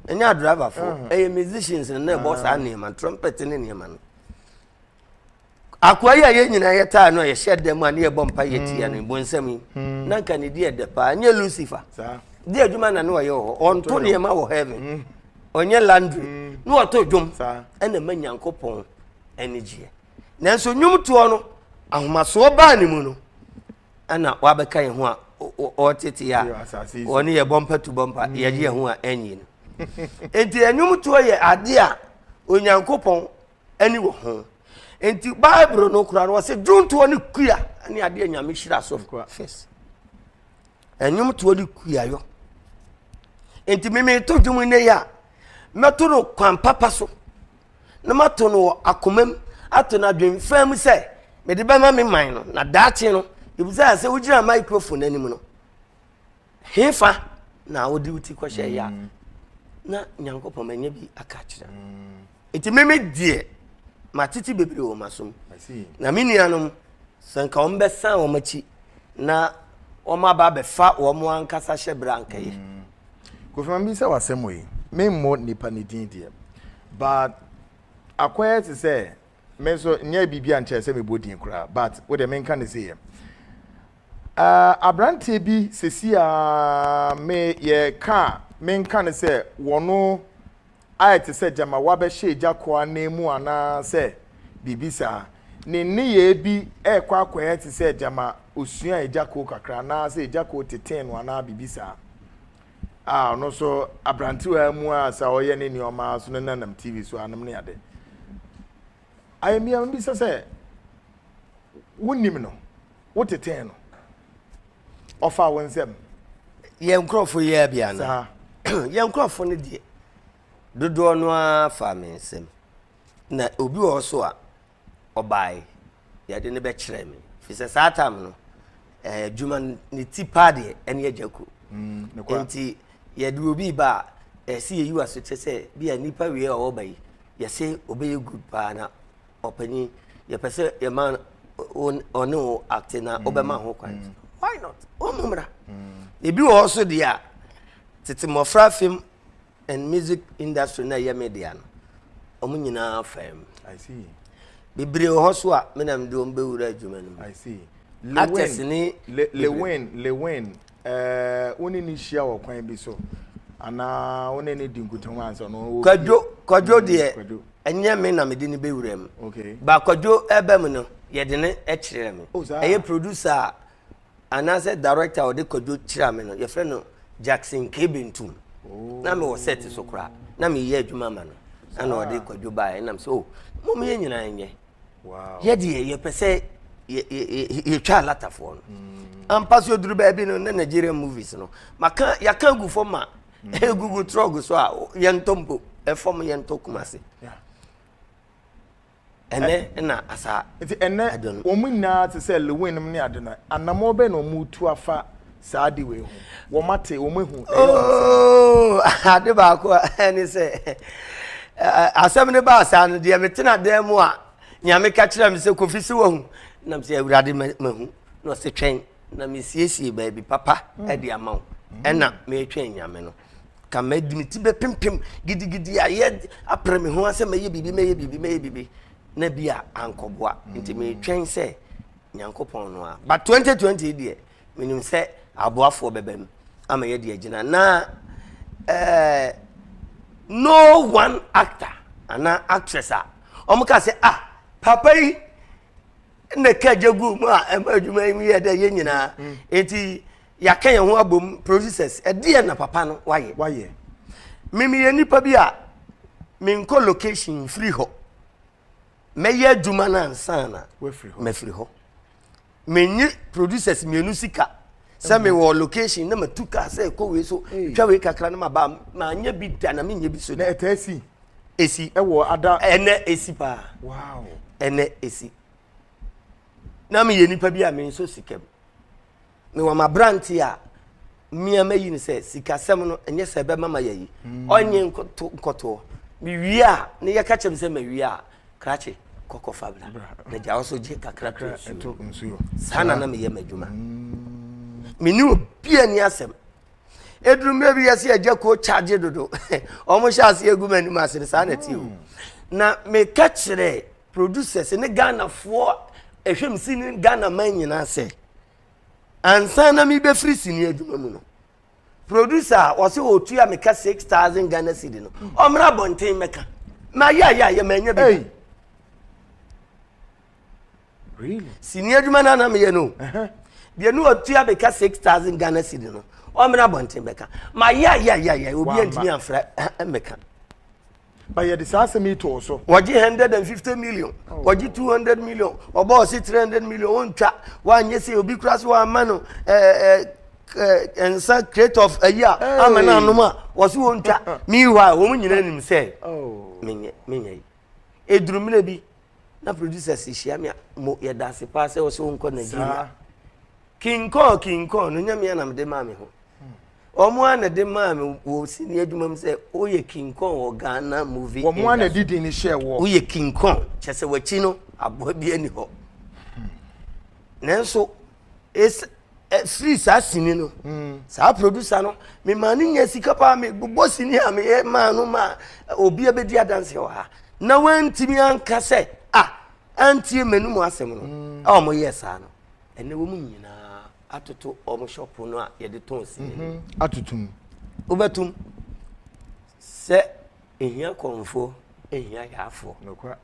ɛnyɛ adriverfoɔ ɛyɛ musicians na ɛbɔ saa nneɛma trumpet ne nneɛma no akoa yi a yɛn nyinaa yɛtaa no a yɛhyɛ dɛ mu a ne yɛbɔ mpa yɛtia no bonsam yi na nka ne di ɛdɛ paa ɛnyɛ lucifer di adwuma na ne ɔyɛ wɔ hɔ ɔnto nneɛma wɔ heaven ɔnyɛ landry ne ɔto dwom ɛna ma nyankopɔn anigyeɛ. Nanso nnwomtoɔ no, ahomasoɔ baa ne mu no, ɛna wabɛka yɛn ho a ɔtete a wɔne yɛ bɔ mpa tu bɔ mpa mm. yɛde yɛn ho a ɛnyi no nti nnwomtoɔ yɛ adeɛ a onyankopɔn ani wɔ ho nti bible no kora no wɔsɛ dwontoɔ ne kua ne adeɛ nyame hyira so fis Ɛnwom toɔ ne kuayɔ. Nti mimi to dwom nnɛ yi a, mɛto no kwan papa so na mato no wɔ akoma mu ato no adwemfaa mu sɛ mede bɛma me man no na daakye no ebisa sɛ wogyina microphone anim no hefa na wode wo ti kɔhyɛ yɛ a mm. na nyankopɔn manya bi aka kyerɛ no mm. Nti me me deɛ matete bebree wɔ m'asom na me nuanom sɛ nka wɔn bɛsan wɔn akyi na wɔn aba abɛfa wɔn ankasa hyɛ berɛ ankɛyɛ. Mm. Kofi ma bisa wɔ asɛm yi me mmɔ nipa ne din deɛ but akɔyɛ te sɛ me nso nyɛ biribi a nkyɛn sɛ mebɔ din koraa but wo deɛ menka ne seyɛ uh, aberanteɛ bi sesi a me yɛ ka menka ne sɛ wɔno ayɛ te sɛ gyama wɔabɛhyɛ agya koro ananmu anaasɛ biribi saa. Ne nneyɛe bi rekɔ akɔyɛ te sɛ gyama osuaa agya koro kakra anaasɛ agya koro tetee no anaa biribi saa. A ɔno nso aberantewaa mu a sɛ ɔyɛ ne nneɛma so no nanam TV so anom ne ade. Ayɛmmea bisa sɛ, Wunim no? Wotetee no? ɔfa wo nsam yɛn nkurɔfo yi ara bi ana saa yɛn nkurɔfo no deɛ dodoɔ no ara fa me nsam na obi wɔ hɔ so a ɔbae yɛde no bɛkyerɛ me fi sɛ saa tam no eh, adwuma no ne ti paa deɛ ɛne agya ku mm, nti yɛde obi ba a ɛsɛ yɛyi wa so kyɛ sɛ bi a nnipa wie a ɔwɔ ba yi yɛsɛ ɔbɛyɛ good paa na ɔpanyin yɛpɛ sɛ yɛma ɔne wo acte na wobɛma ho kwan mm. why not ɔmu mmra mm. ebi wɔ hɔ so deɛ a tete mmɔfra film and music industry na ɛyɛ media no ɔmo nyinaa fam bebree wɔ hɔ so a menam de ɔm bɛwura adwuma no mu actors ne lewin lewin Wo ne no hyia wɔ kwan bi so anaa wo ne no di nkutamu ansa na ɔwɔ kwadwo kwadwo mm, deɛ ɛnyɛ me na mede no bɛwura mu ba kwadwo ɛba mu no yɛde no kyerɛ me oh, ɛyɛ producer a anaasɛ director a ɔde kwadwo kyerɛ me no yɛfrɛ no jackson kebentum oh. na mewɔ set so koraa na meyɛ adwuma ma no ɛna ɔde kwadwo baeɛ nam sɛ o oh, mom yɛ nyinaa nyɛ yɛ deɛ yɛpɛ sɛ yɛtwa alatafoɔ no mm. ampa so duru baabi no na nigerian movies no maka yɛaka agu fam ma ɛgugu mm. trɔg so a yɛntɔ mpo ɛfam yɛntɔ kuma ase ɛnɛ na asa nti ɛnɛ wɔn nyinaa te sɛ lewin nom ne ade no anamɔ bɛn na wɔn tu afa saa ade wei ho wɔn ate wɔn ehu ɛyɛ wɔn ooo ade baako a ɛne sɛ asɛm no baa saa no deɛ metena dan mu a nyame ka kyerɛ me sɛ kofi si wahu nam sɛ awurade mahu na ɔsɛ twɛn na mesiesie baabi papa mm. de ama wo mm. ɛna metwɛn nyame no ka mɛdi me ti bɛpempem gidigidi ayɛ apere me ho asɛ mɛyɛ biribi mɛyɛ biribi mɛyɛ biribi na bi a ankɔboa mm. nti metwɛn sɛ nyankopɔn no a but 2020 deɛ Menim sɛ aboafoɔ bɛba mu ama yɛde agyina na eh, no one actor anaa actress a wɔn ka sɛ ah papa yi na ɛka gya gu mu a ɛma adwuma yi mu yɛ dɛ yɛn nyinaa mm. nti yɛaka yɛn ho abom producers ɛdeɛ na papa no wayɛ wayɛ mimi yɛ nipa bi a menkɔ location firi hɔ mɛyɛ adwuma no ansa na mafiri hɔ menye producers mmienu sika sɛ mewɔ location na matu kaa sɛ ɛkɔ wei so twa wei kakra no maba maanyɛ bi da na menyɛ bi so da ɛtaa si ɛsi ɛwɔ ada ɛnɛ ɛsi paa wow ɛnɛ ɛsi na meyɛ nipa bi a menso sika mu Mewɔ m'aberanteɛ a me a mayi no sɛ sikasɛm no ɛnyɛ sɛ ɛbɛma ma yɛyi hmm. ɔnye nkɔtoɔ mewie a ne yɛka kyɛm sɛ mawie a krakye kɔkɔ fa bra na gya wo so gye kakra ka nsuo saa na na meyɛ m'adwuma hmm. mene obi ani asɛm ɛduru mmerɛ bi yɛsɛ agya kuo kyagye dodo ɔmo hyɛ aseɛ agu m'anim ase no saa na ɛteɛ o hmm. na meka kyerɛ producers ne ghanafoɔ ɛhwɛ m si ne ghana man nyinaa sɛ ansa na mebɛfiri sini adwuma mu no producer a wɔsɛ ɔtua meka 6000 ghana cedi no hmm. ɔmmra abɔnten mɛka mayɛayɛayɛ manya bi hey. really? sini adwuma no ana meyɛ no deɛ ne ɔtua meka 6000 ghana cedi no ɔmmra abɔnten bɛka mayɛayɛayɛayɛ obi antumi amfra mɛka ba yɛde saa asɛm yi too so. wɔgye hundred and fifty million oh. wɔgye two hundred million ɔbɔ ɔse three hundred million wɔntwa wɔanyɛ sɛ obi kura so wɔama no ɛɛ ɛɛ nsa crate of ayi a ama no anom a wɔse wɔntwa meanwhile wɔn nyinaa nim sɛ oh. menyɛ menyɛ yi eduru mmerɛ bi na producers hyia me a mo yɛda ase paa sɛ wɔsɛ wɔnkɔ nigeria king kong king kong no nyamea na mede maa me ho Wɔn ara na de maa me wɔ sini adwuma mu sɛ woyɛ King Kong wɔ Ghana movie industry. Wɔn ara na de din no hyɛɛ woɔ. Woyɛ King Kong kyɛ sɛ w'akyi no aboa bi ani hɔ. Hmm. Nanso esi ɛfiri eh, saa sini no hmm. saa producer no memaa no nya sika paa mebobɔ sini a meyɛ maa no ma eh, obi abɛdi adanseɛ wɔ ha na wantumi anka sɛ a antie m'anom asɛm no hmm. a wɔyɛɛ saa no ɛnɛ wɔ mu nyinaa atoto wɔn shop no a yɛde tɔn sini no mhm. atoto mu wobɛtum sɛ ehia kɔnfoɔ ehia yaafoɔ. nokora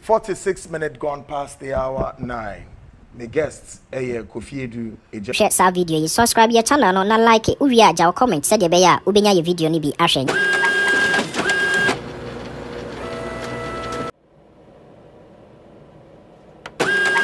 forty six minutes gone past the hour nine me guest ɛyɛ kofi edu egya. hwɛ saa video yi subscribe yɛ channel no na like wowie a gya wo comment sɛdeɛ ɛbɛyɛ a wobɛnya yɛ video no bi ahwɛ.